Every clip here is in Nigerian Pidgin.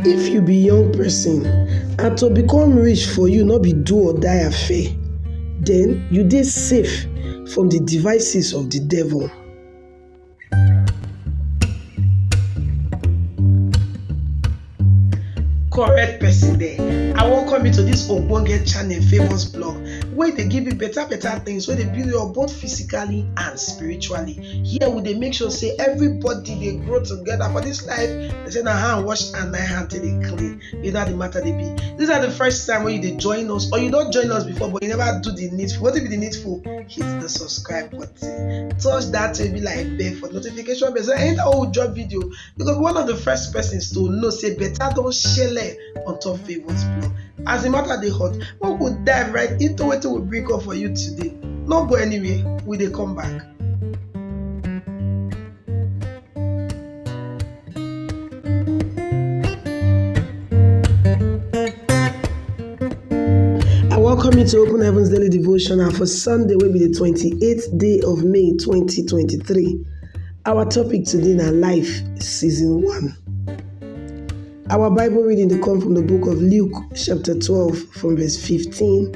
If you be young person and to become rich for you no be do or die affair, then you dey safe from the devices of the devil. correct person there i welcome you to this ogbonge channel famous blog wey dey give you better better things wey dey build you up both physically and spiritually here we dey make sure say everybody dey grow together for this life they say na hand wash and na hand take dey clean you know how the matter dey be this na the first time wey you dey join us or you don join us before but you never do the needful wetin be the needful hit the subscribe button touch that baby like bell for notification bell so anytime wey we drop video you go be one of the first persons to know say better don shele on top favourite blog as the matter dey hot make we dive right into wetin we bring come for you today no go anywhere we dey come back. I welcome you to Open Heavens Daily Devotional for Sunday, will be the 28th day of May 2023. Our topic today na Life Season 1. Our Bible reading dey come from the book of Luke, chapter 12, from verse 15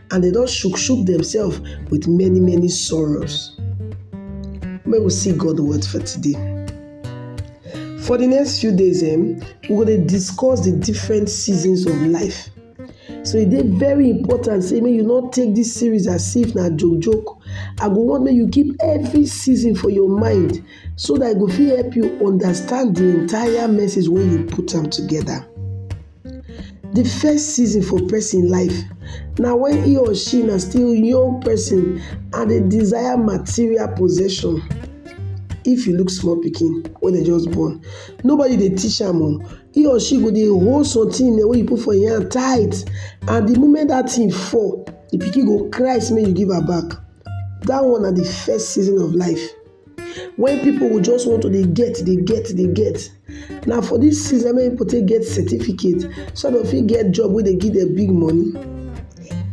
and dem don shook shook themselves with many many sorrows. Make we see God word for today. For the next few days, um, we go dey discuss the different seasons of life. So e dey very important say make you no take this series as if na joke joke. I go want make you keep every season for your mind so that e go fit help you understand the entire message wey you put am together. Di first season for pesin life na wen he or she na still young pesin and dey desire material possession. If you look small pikin wey dem just born, nobody dey teach am o, he or she go dey hold something wey you put for im hand tight and di moment dat thing fall, di pikin go cry sey make you give am back. Dat one na di first season of life. When people will just want to dey get, dey get, dey get. Na for this season many people take get certificate so that dem fit get job wey dey give dem big money.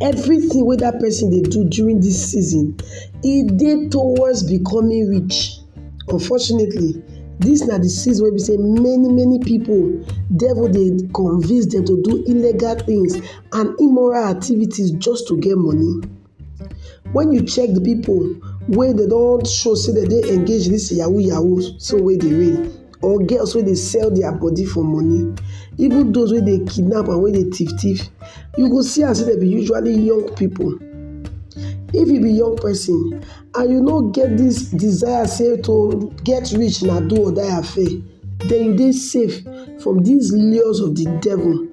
Everything wey that person dey do during this season, e dey towards becoming rich. Unfortunately, this na the season wey be say many many people devil dey convince dem to do illegal things and immoral activities just to get money. Wen you check di pipu wey dem don show sey dem dey engage in dis yahoo yahoo so wey dey reign or girls wey dey sell dia body for money, even dose wey dey kidnap and wey dey tiff tiff, you go see am sey dem be usually young pipu. If you be young pesin. and you no get this desire say to get rich na do or die affair, then you dey safe from these lures of the devil.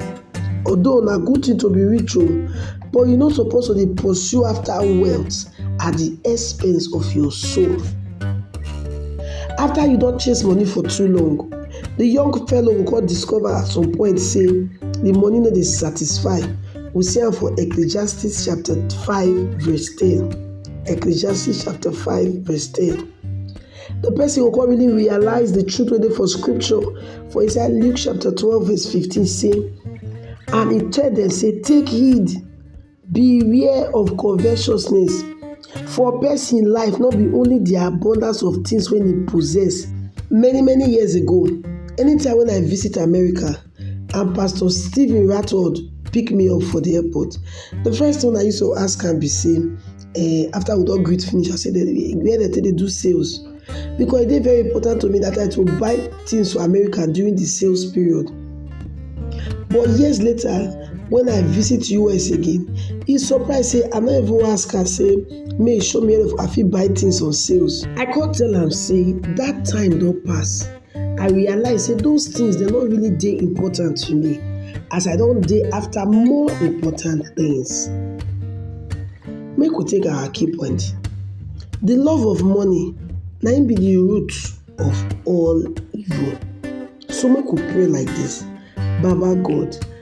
Although na good thing to be rich o, oh, but you no suppose to dey pursue after wealth at the expense of your soul. After you don chase money for too long, the young fellow go come discover at some point say the money no dey satisfy. We see am for Ecclesiastes chapter 5 verse 10. Ecclesiastes chapter 5 verse 10. The person will come really realize the truth within for scripture. For inside Luke chapter 12 verse 15 say, And he tell them say, Take heed, beware of covetousness, for person life not be only the abundance of things when he possess. Many many years ago, anytime when I visit America, and pastor Stephen Ratford pick me up for the airport. The first thing I used to ask am be say um after we don greet finish I say where dem take dey do sales because e dey very important to me that I to buy things for America during the sales period but years later when I visit US again he surprise say I no even ask am say make he show me where I fit buy things on sales. I come tell am say that time don pass I realize say those things dem no really dey important to me as I don dey after more important things. Make we take our key point. The love of money na im be the root of all evil. So make we pray like this, Baba God,